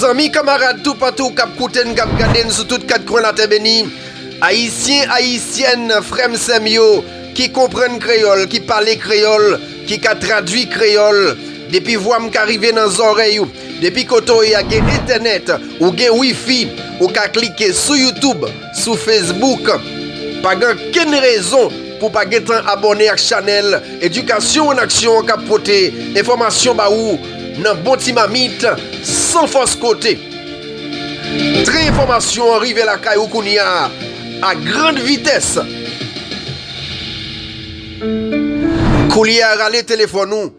Zanmi kamarad toupatou k ap koute n, k ap gade n sou tout kat kwen latè beni, Ayisyen, Ayisyèn, frè m, sè m yo ki konprann kreyòl, ki pale kreyòl, ki ka tradui kreyòl, depi vwa m ka rive nan zòrèy ou, depi kote w ye a gen entènèt, ou gen wifi, ou ka klike sou Youtube. Sou Facebook, Pa gen ankenn rezon pou w pa gentan abòne ak chanèl Edikasyon 1 Aksyon an k ap pote enfòmasyon ba ou nan bon ti mamit, san fòs kote. Tren enfòmasyon an rive lakay ou kounya a grand vitès! Koulye a rale telefòn ou!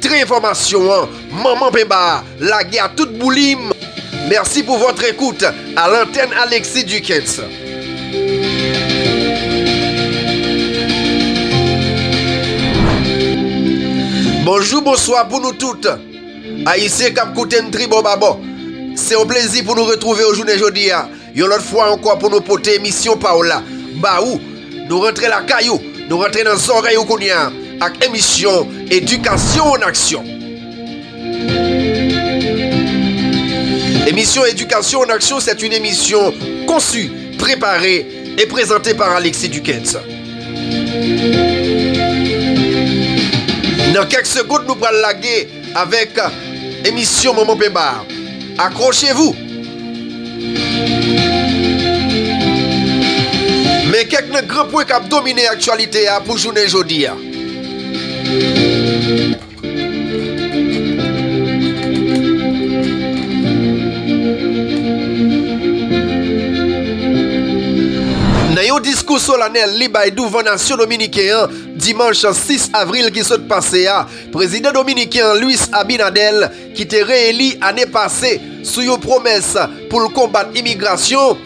Tren enfòmasyon an manman penba a lage a tout boulim. Merci pour votre écoute à l'antenne Alexis Duckens. Bonjou bonswa pou nou tout Ayisyen kap koute n tribò babò Se yon plezi pou nou retwouve w jounen jodi a Yon lòt fwa ankò pou nou pote emisyon pa w la ba ou. Nou rantre lakay ou, nou rantre nan zòrèy ou kounye a ak emisyon Edikasyon an Aksyon. Emisyon Edikasyon an Aksyon c'est une émission conçue, préparée et présentée par Alexis Duckens. Nan kèk segond nou pral lage. Avèk emisyon Manman Penba a. Akrochez-vous! Men kèk nan gran pwen k ap domine aktyalite a pou jounen jodi a. Nan yon diskou solanèl li bay douvan nasyon dominiken an dimanch 6 avril ki sot pase a, Prezidan dominiken an Luis Abinader ki te re-eli ane pase sou yon pwomès pou l konbat imigrasyon,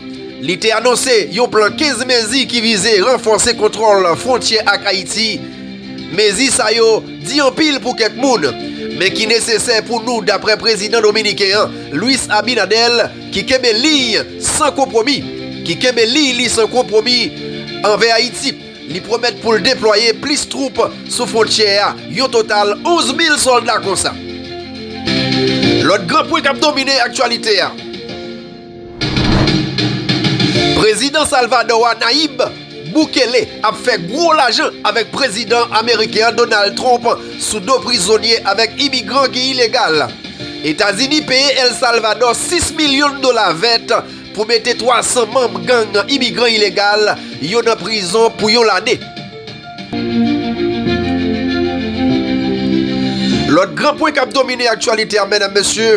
li te anonse yon plan 15 mezi ki vize ranfòse kontwòl fwontyè ak Ayiti. Mezi sa yo di anpil pou kèk moun, men ki nesesè pou nou daprè prezidan dominiken an Luis Abinader ki kenbe liy san konpwomi ki kenbe liy li san konpwomi anvè Ayiti. Li pwomèt pou l deplwaye plis twoup sou fwontyè a, yon total 11 mil sòlda konsa. Lòt gran pwen k ap domine aktyalite a. Prezidan Salvadò a Nayib Bukele ap fè gwo lajan avèk prezidan ameriken an Donald Trump sou do prizonye avèk imigran ki ilegal. Etazini peye El Salvadò 6 milyon dola vèt. pou mete 300 manm gang imigran ilegal yo nan prizon pou yon lane. Lòt gran pwen k ap domine aktyalite a medam mesye,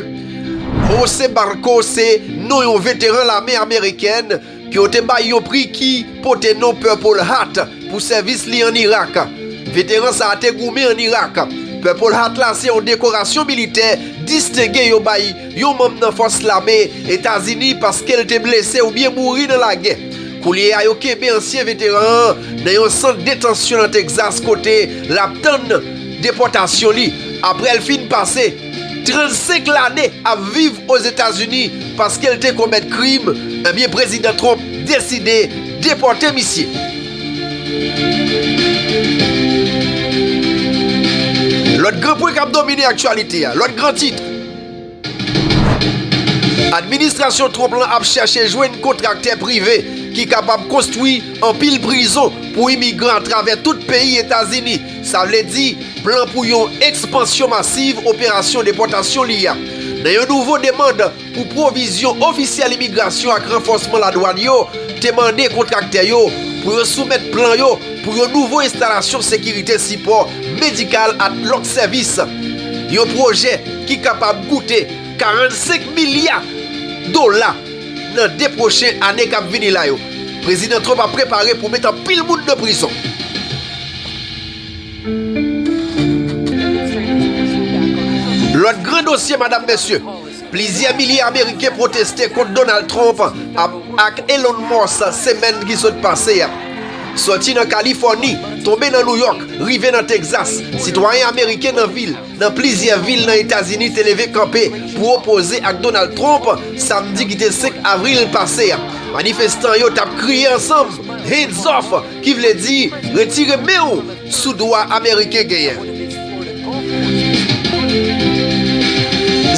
Jose Barco se non yon veteran lame amerikèn ke yo te bay yon pri ki pote non Purple Heart pou sèvis li an Irak. Veteran sa a te goumen an Irak. Purple Heart la se yon dekorasyon militè distenge yo bay yon manm nan fòs lame Etazini paske l te blese oubyen mouri nan lagè. Koulye a yo kenbe ansyen veteran an nan yon sant detansyon nan Texas kote l ap tann depòtasyon li aprè l fin pase 35 lane ap viv Ozetazini paske l te komèt krim ebyen Prezidan Trump deside depòte misye. Lòt gran pwen k ap domine aktyalite a, lòt gran tit. Administrasyon Trump lan ap chèche jwenn kontraktè prive ki kapab konstwi anpil prizon pou imigran atravè tout peyi Etazini, sa vle di plan pou yon ekspansyon masiv operasyon depòtasyon li a. Nan yon nouvo demand pou pwovizyon, ofisyèl imigrasyon ak ranfòsman ladwàn yo te mande kontraktè yo pou yo soumèt plan yo pou yon nouvo enstalasyon sekirite sipò medikal ak lòt sèvis. Yon pwojè ki kapab koute 45 milya dola nan 2 pwochen ane kap vini la yo. Prezidan Trump ap prepare pou met anpil moun nan prizon. Lòt gran dosye madam mesye. Plizyè milye ameriken pwoteste kont Donald Trump ap ak Elon Musk semèn ki sot pase a. Sòti nan Kalifòni, tonbe nan Nouyòk, rive nan Texas, sitwayen ameriken nan vil nan plizyè vil nan Etazini te leve kanpe pou opoze ak Donald Trump samdi ki te 5 avril pase a. Manifestan yo t ap kriye ansanm, Hands off! Ki vle di, retire men ou sou dwa Ameriken genyen.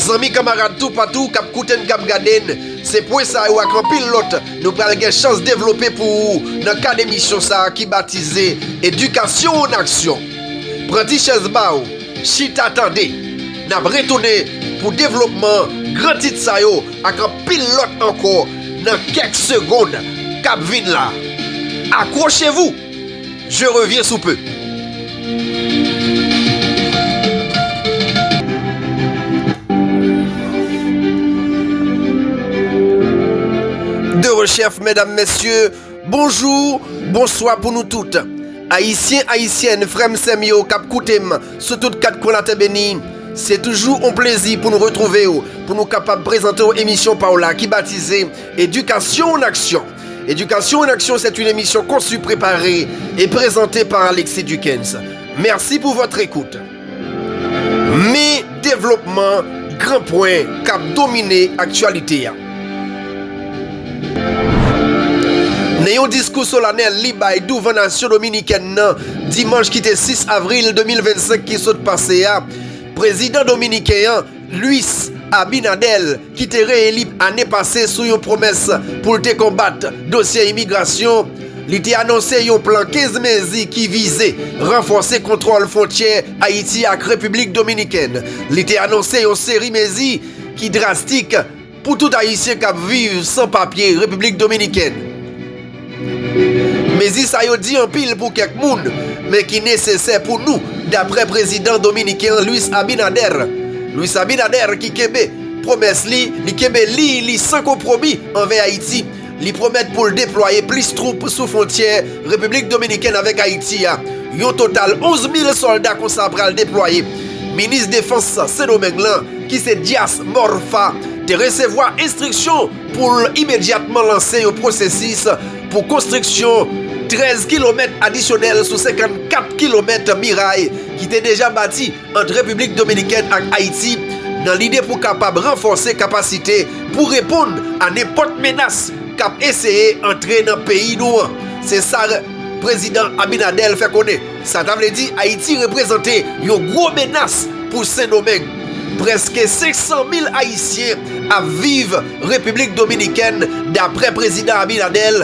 Zanmi kamarad toupatou k ap koute n k ap gade n, se pwen sa yo ak anpil lòt nou pral gen chans devlope pou ou nan kad emisyon sa ki batize Edikasyon an Aksyon. Pran ti chèz ba ou. Chita tande! N ap retounen pou devlopman gran tit sa yo ak anpil lòt ankò nan kèk segonn k ap vin la. Akwochez-vous! Je reviens sous peu. Bonjour, bonswa pou nou tout Ayisyen Ayisyèn frèm sèm yo kap koutem sou tout 4 kwen latè beni se toujou on plezi pou nou retrouvew pou nou kapab prezantew emisyon paw la ki batize Education en action Education en action c'est une émission conçue, préparée et présentée par Alexis Duckens Merci pour votre écoute. Men devlopman gran pwen k ap domine aktyalite a. Nan yon diskou solanèl li bay douvan nasyon dominikèn nan dimanch ki te 6 avril 2025 ki sot pase a, prezidan dominiken an, Luis Abinader, ki te reeli ane pase sou yon pwomès pou l te konbat dosye imigrasyon, li te anonse yon plan 15 mezi ki vize ranfòse kontwòl fwontyè Ayiti ak Repiblik Dominikèn. Li te anonse yon seri mezi ki drastik, Pou tout Ayisyen k ap viv san papye Repiblik Dominikèn. Mezi sa yo di anpil pou kèk moun, men ki nesesè pou nou, daprè prezidan dominiken Luis Abinader. Luis Abinader ki kenbe pwomès li, li kenbe liy li san konpwomi anvè Ayiti. Li pwomèt pou l deplwaye plis twoup sou fwontyè Repiblik Dominikèn avèk Ayiti a. Yon total 11 mil sòlda konsa pral deplwaye. Minis defans Sendomeng lan, ki se Dias Morfa, te resevwa enstriksyon pou l imedyatman lanse yon pwosesis pou konstriksyon 13 kilomèt adisyonèl sou 54 kilomèt miray ki te deja bati ant Repiblik Dominikèn ak Ayiti nan lide pou kapab ranfòse kapasite pou reponn a nenpòt menas k ap eseye antre nan peyi nou an, se sa Prezidan Abinader fè konnen. Sa ta vle di Ayiti reprezante yon gwo menas pou Sendomeng. Prèske 500 mil Ayisyen ap viv Repiblik Dominikèn, dapre Prezidan Abinader.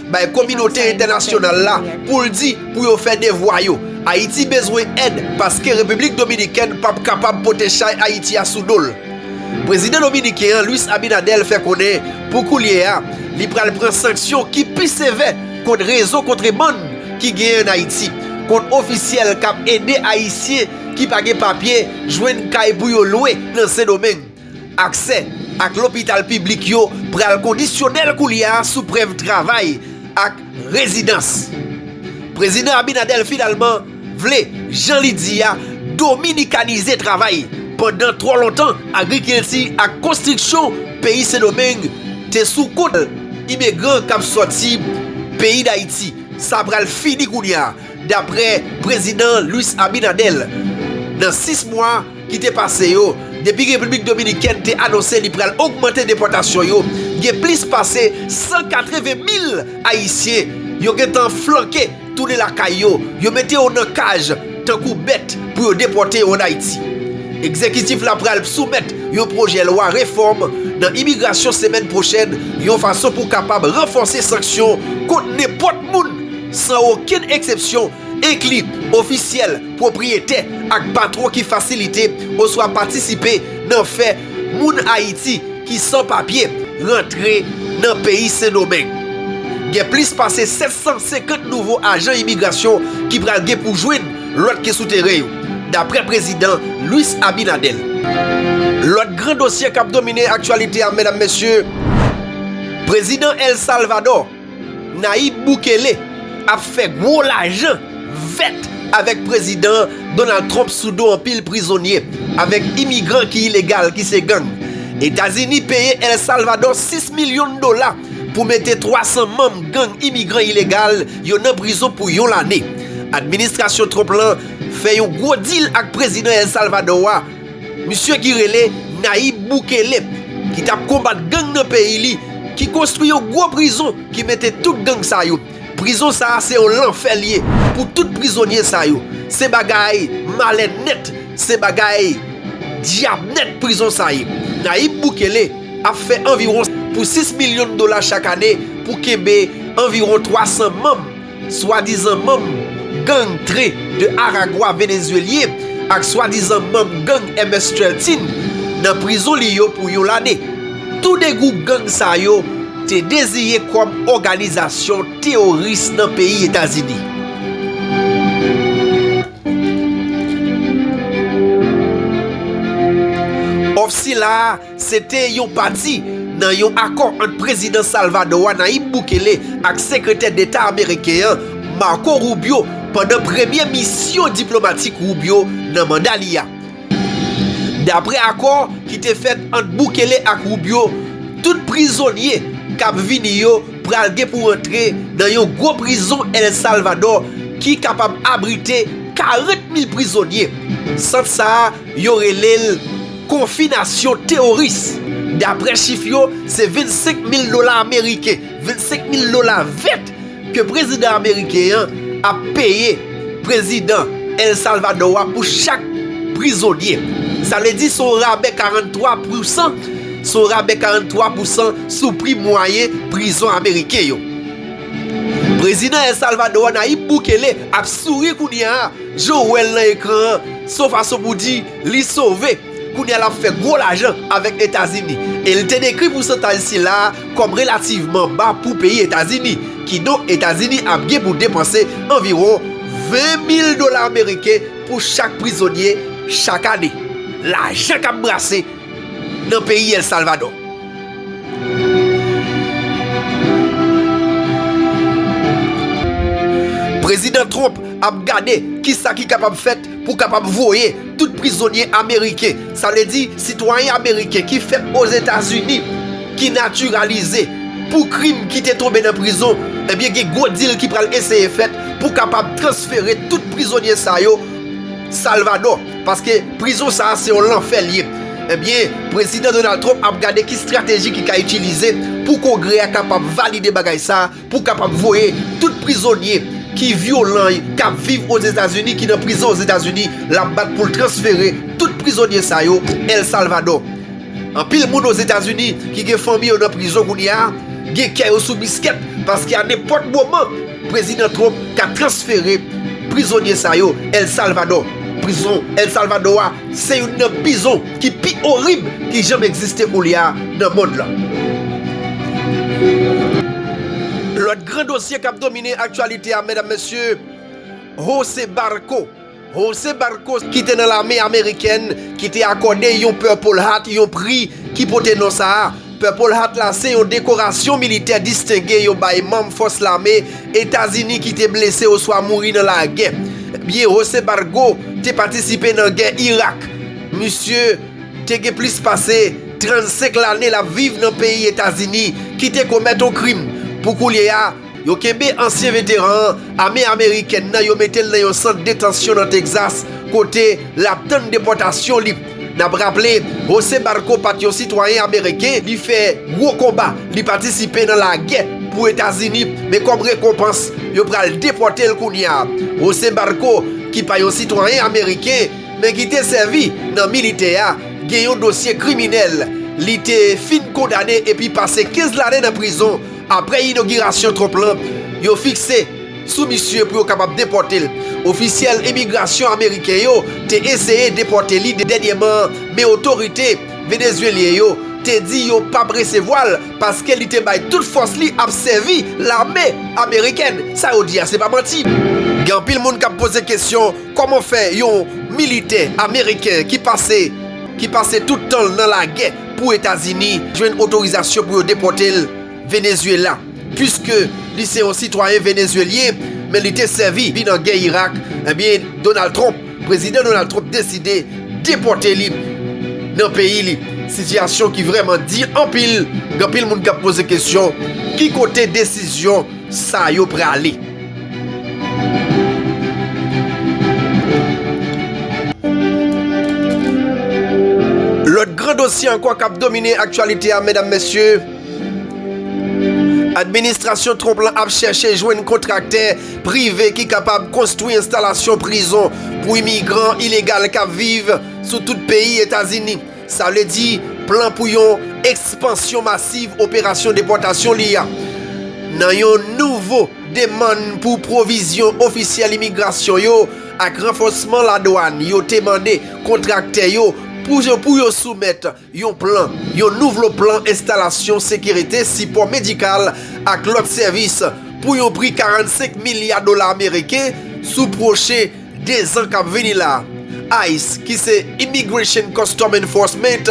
Bay kominote entènasyonal la pou l di pou yo fè devwa yo. Ayiti bezwen èd paske Repiblik Dominikèn p ap kapab pote chay Ayiti a sou do l. Prezidan dominiken an Luis Abinader fè konnen pou koulye a li pral pran sanksyon ki pi sevè kont rezo kontrebann ki gen ann Ayiti, kont ofisyèl k ap ede Ayisyen ki pa gen papye jwenn kay pou yo lwe nan Sendomeng. Aksè ak lopital piblik yo pral kondisyonèl koulye a sou prèv travay ak rezidans. Prezidan Abinader finalman vle, jan li di a, dominikanize travay pandan twò lontan agrikilti ak konstriksyon peyi Sendomeng te sou kont imigran k ap sòti peyi Dayiti. Sa pral fini kounye a, daprè Prezidan Luis Abinader, nan 6 mwa. ki te pase yo, depi Repiblik Dominikèn te anonse li pral ogmante depòtasyon yo, gen plis pase 180 mil Ayisyen yo gentan flanke tounen lakay yo, yo mete yo nan kaj tankou bèt pou yo depòte yo ann Ayiti. Egzekitif la pral soumèt yon pwojè lwa refòm nan imigrasyon semèn pwochèn yon fason pou kapab ranfòse sanksyon kont nenpòt moun san okenn eksepsyon Enkli, ofisyèl, pwopriyetè, ak patwon ki fasilite oswa patisipe nan fè moun Ayiti ki san papye rantre nan peyi Sen Domeng. Gen plis pase 750 nouvo ajan imigrasyon ki pral gen pou jwenn lòt ke sou teren yo, dapre Prezidan Luis Abinader. Lòt gran dosye kap domine aktyalite a, medam mesye, Prezidan El Salvador, Nayib Bukele ap fè gwo lajan vèt avèk prezidan Donald Trump sou do anpil prizonye avèk imigran ki ilegal ki se gang. Etazini peye El Salvadò 6 milyon dola pou mete 300 manm gang imigran ilegal yo nan prizon pou yon lane. Administrasyon Trump lan fè yon gwo dil ak prezidan El Salvadò a Misye ki rele Nayib Bukele ki tap konbat gang nan peyi li ki konstwi yon gwo prizon ki mete tout gang sa yo. Prizon sa se yon lanfè l ye pou tout prizonye sa yo. Se bagay malè nèt, se bagay dyab nèt prizon sa ye. Nayib Bukele ap fè anviwon pou 6 milyon dola chak ane pou kenbe anviwon 300 manm. Swadizan manm gang Tren de Aragua Venezuelyen ak swadizan manm gang MS 13 nan prizon li yo pou yon lane. Tou 2 gwoup gang sa yo te deziyen kòm òganizasyon teworis nan peyi Etazini. Òf sila a Se te yon pati nan yon akò ant Prezidan Salvadò a, Nayib Bukele, ak Sekretè Deta ameriken an, Marco Rubio, pandan premye misyon diplomatik Rubio nan manda li a. Dapre akò ki te fèt ant Bukele ak Rubio, tout prizonye k ap vini yo pral gen pou antre nan yon gwo prizon El Salvador ki kapab abrite 40 mil prizonye. Sant sa a Yo rele l konfinasyon teworis. Dapre chif yo, se 25 mil dola ameriken, 25 mil dola vèt, ke prezidan ameriken an ap peye prezidan El Salvador a pou chak prizonye. Sa vle di se yon rabè 43 pou san, se yon rabè 43 pou san sou pri mwayen prizon ameriken yo. Prezidan El Salvador a, Nayib Bukele, ap souri kounye a, Joe wèl nan ekran an son fason pou di li sove, kounye a lap fè gwo lajan avèk Etazini e li te dekri pousantaj sila a kòm relativman ba pou peyi Etazini, kidonk Etazini ap gen pou depanse anviwon 20 mil dola ameriken pou chak prizonye chak ane. Lajan kap brase nan peyi El Salvador. Prezidan Trump ap gade kisa ki kapab fèt pou kapab voye tout prizonye ameriken, sa vle di sitwayen ameriken ki fèt Ozetazini ki natiralize pou krim ki te tonbe nan prizon, ebyen gen gwo dil ki pral eseye fèt pou kapab transfere tout prizonye sa yo Salvadò. Paske prizon sa a se yon lanfè l ye. Ebyen, Prezidan Donald Trump ap gade ki strateji ki ka itilize pou Kongrè a kapab valide bagay sa a pou kapab voye tout prizonye ki vyolan y k ap viv Ozetazini ki nan prizon Ozetazini l ap bat pou l transfere tout prizonye sa yo El Salvador. Anpil moun Ozetazini ki gen fanmi yo nan prizon kounye a gen kè yo sou biskèt paske a nenpòt moman Prezidan Trump ka transfere prizonye sa yo El Salvadò. Prizon El Salvadò a se youn nan pizon ki pi orib ki janm egziste koulye a nan mond lan. Lòt gran dosye k ap domine aktyalite a medam mesye, Jose Barco. José Barcos ki te nan lame amerikèn ki te akòde yon Purple Heart yon pri ki pote non sa a. Purple Heart la se yon dekorasyon militè distenge yo bay manm fòs lame Etazini ki te blese oswa mouri nan lagè. Byen José Barco te patisipe nan gè Irak, misye te gen plis pase 35 lane l ap viv nan peyi Etazini ki te komèt yon krim pou koulye a. Yo kenbe ansyen veteran ame amerikèn nan yo mete l nan yon sant detansyon nan Texas kote l ap tann depòtasyon li. N ap raple, José Barco pa t yon sitwayen ameriken, li fè gwo konba, li patisipe nan lagè pou Etazini men kòm rekonpans yo pral depòte l kounye a. José Barco ki pa yon sitwayen ameriken men ki te sèvi nan militè a gen yon dosye kriminèl li te fin kondane epi pase 15 lane nan prizon Aprè inogirasyon Trump la, yo fikse sou misye pou yo kapab depòte l. Ofisyèl imigrasyon ameriken yo te eseye depòte li dènyèman an, men otorite venezuelyen yo te di yo pa p resevwa l paske li te bay tout fòs li ap sèvi lame amerikèn. Sa yo di a se pa manti. Gen anpil moun k ap poze kesyon kòman fè yon militè ameriken ki pase ki pase tout tan l nan lagè pou Etazini jwenn otorizasyon pou yo depòte l Venezuela puiske li se yon sitwayen Venezuelyen men li te sèvi li nan gè Irak ebyen Donald Trump Prezidan Donald Trump deside depòte li nan peyi li sitiyasyon ki vrèman di anpil gen anpil moun kap poze kesyon ki kote desizyon sa yo prale. Lòt gran dosye ankò k ap domine aktyalite a medam mesye, administrasyon Trump lan ap chèche jwenn kontraktè prive ki kapab konstwi enstalasyon prizon pou imigran ilegal k ap viv sou tout peyi Etazini. Sa vle di, plan pou yon ekspansyon masiv operasyon depòtasyon li a nan yon nouvo demann pou pwovizyon ofisyèl imigrasyon yo ak ranfòsman ladwàn yo te mande kontraktè yo pou yo soumèt yon plan yon nouvlo plan enstalasyon sekirite sipò medikal ak lòt sèvis pou yon pri 45 milya dola ameriken sou pwochen Dezan k ap vini la a, ice, ki se Immigration Custom Enforcement,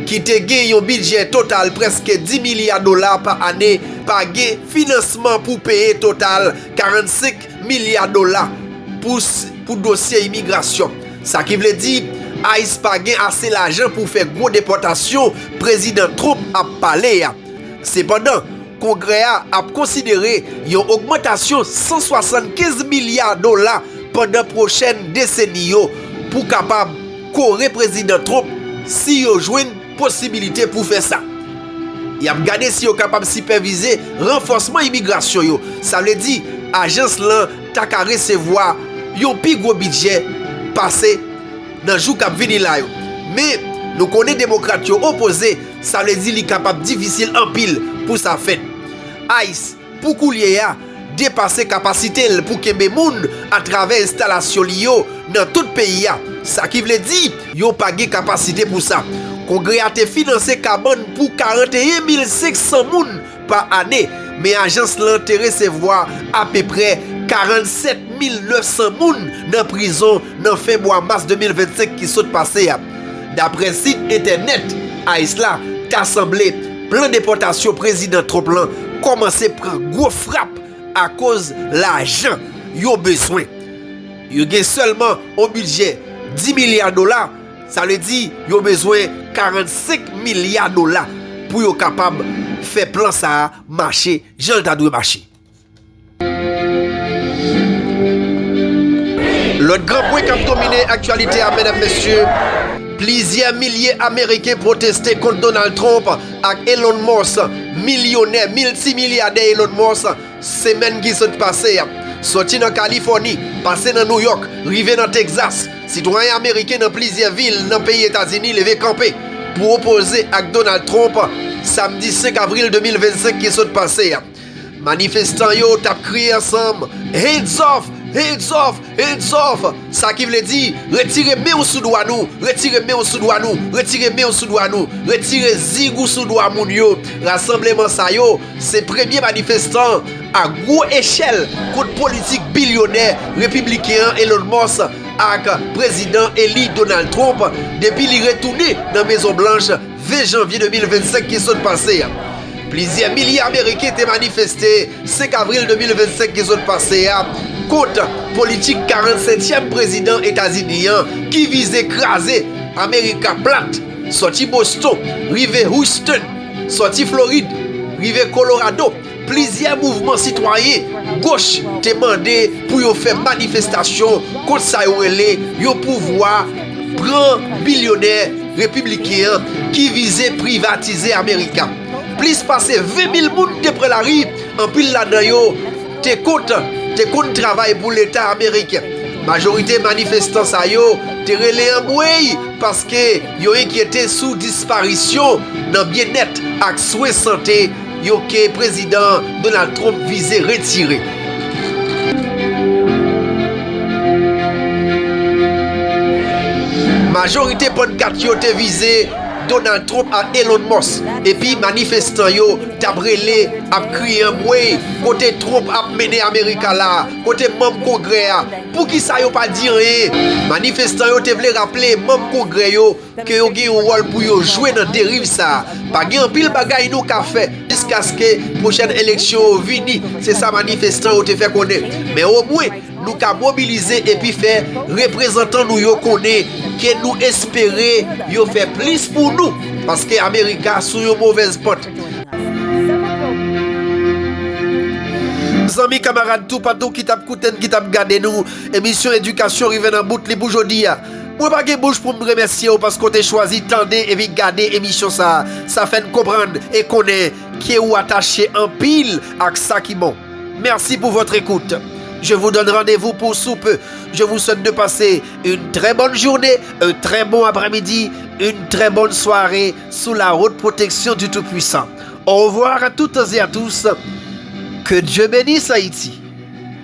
ki te gen yon bidjè total prèske 10 milya dola pa ane, pa gen finansman pou peye total 45 milya dola pou dosye imigrasyon. Sa ki vle di, ice pa gen ase lajan pou fè gwo depòtasyon Prezidan Trump ap pale a. Sepandan, Kongrè a ap konsidere yon ogmantasyon 175 milya dola pandan pwochèn deseni yo pou kapab kore Prezidan Trump si yo jwenn posibilite pou fè sa. Y ap gade si yo kapab sipèvize ranfòsman imigrasyon yo, sa vle di ajans lan ta ka resevwa yon pi gwo bidjè pase nan jou k ap vini la yo. Men, nou konnen Demokrat yo opoze Sa vle di li kapab difisil anpil pou sa fèt. Ice, pou koulye a, depase kapasite l pou kenbe moun atravè enstalasyon li yo nan tout peyi a, sa ki vle di yo pa gen kapasite pou sa. Kongrè a te finanse kabann pou 41 mil 500 moun Pa ane, men ajans lan te resevwa apeprè 47 mil 900 moun nan prizon nan fen mwa mas 2025 ki sot pase a. Daprè sit entènèt ice la, ta sanble plan depòtasyon Prezidan Trump lan kòmanse pran gwo frap akoz lajan yo bezwen. Yo gen sèlman on bidjè 10 milya dola, Sa vle di yo bezwen 45 milya dola pou yo kapab fè plan sa a mache jan l ta dwe mache. Lòt gran pwen k ap domine aktyalite a medam mesye, plizyè milye ameriken pwoteste kont Donald Trump ak Elon Musk, milyonè, miltimilyadè Elon Musk, Semèn ki sot pase a, soti nan Kalifòni, pase nan Nouyòk, rive nan Texas, sitwayen ameriken nan plizyè vil nan peyi Etazini leve kanpe pou opoze ak Donald Trump samdi 5 avril 2025 ki sot pase a. Manifestan yo t ap kriye ansanm, Hands off! Hands off! Hands off! Sa ki vle di, Retire men ou sou dwa nou! Retire men ou sou dwa nou! Retire men ou sou dwa nou! Retire zig ou sou dwa moun yo! Rasanbleman sa yo, se premye manifestan a gwo echèl kont politik bilyonè repibliken an Elon Musk ak Prezidan eli Donald Trump depi li retounen nan Mezon Blanch 20 janvye 2025 ki sot pase a, plizyè milye ameriken te manifeste 5 avril 2025 ki sot pase a kont politik 47 tyèm prezidan Etazini an ki vize kraze Amerika plat sòti Boston rive Houston, sòti Florid rive Kolorado. Plizyè mouvman sitwayen goch te mande pou yo fè manifestasyon kont sa yo rele yon pouvwa pran bilyonè repibliken an ki vize privatize America. Plis pase 20 mil moun te pran lari, anpil ladan yo te kont te konn travay pou leta ameriken. Majorite manifestan sa yo te rele anmwey paske yo enkyete sou disparisyon nan byennèt ak swen sante yo ke Prezidan Donald Trump vize retire. Majorite pannkat yo te vize Donald Trump ak Elon Musk epi manifestan yo t ap rele, ap kriye anmwey kote Trump ap mennen Amerika la, kote manm Kongrè a, poukisa yo pa di anyen? Manifestan yo te vle raple manm Kongrè yo ke yo gen yon wòl pou yo jwe nan deriv sa a. Pa gen anpil bagay nou ka fè jiskaske pwochèn eleksyon yo vini, se sa manifestan yo te fè konnen. Men omwen, nou ka mobilize epi fè reprezantan nou yo konnen ke nou espere yo fè plis pou nou, paske Amerika sou yon movèz pant. Zanmi, kamarad, toupatou ki t ap koute n, ki t ap gade nou, emisyon Edikasyon rive nan bout li pou jodi a. Mwen pa gen bouch pou m remèsye w paske w te chwazi tande epi gade emisyon sa a. Sa fè n konprann e konnen ke ou atache anpil ak sa ki bon. Merci pour votre écoute. Je vous donne rendez-vous pour sous peu. Je vous souhaite de passer une très bonne journée, un très bon après-midi, une très bonne soirée sous la haute protection du Tout-Puissant. Au revoir à toutes et à tous. Que Dieu bénisse Haïti.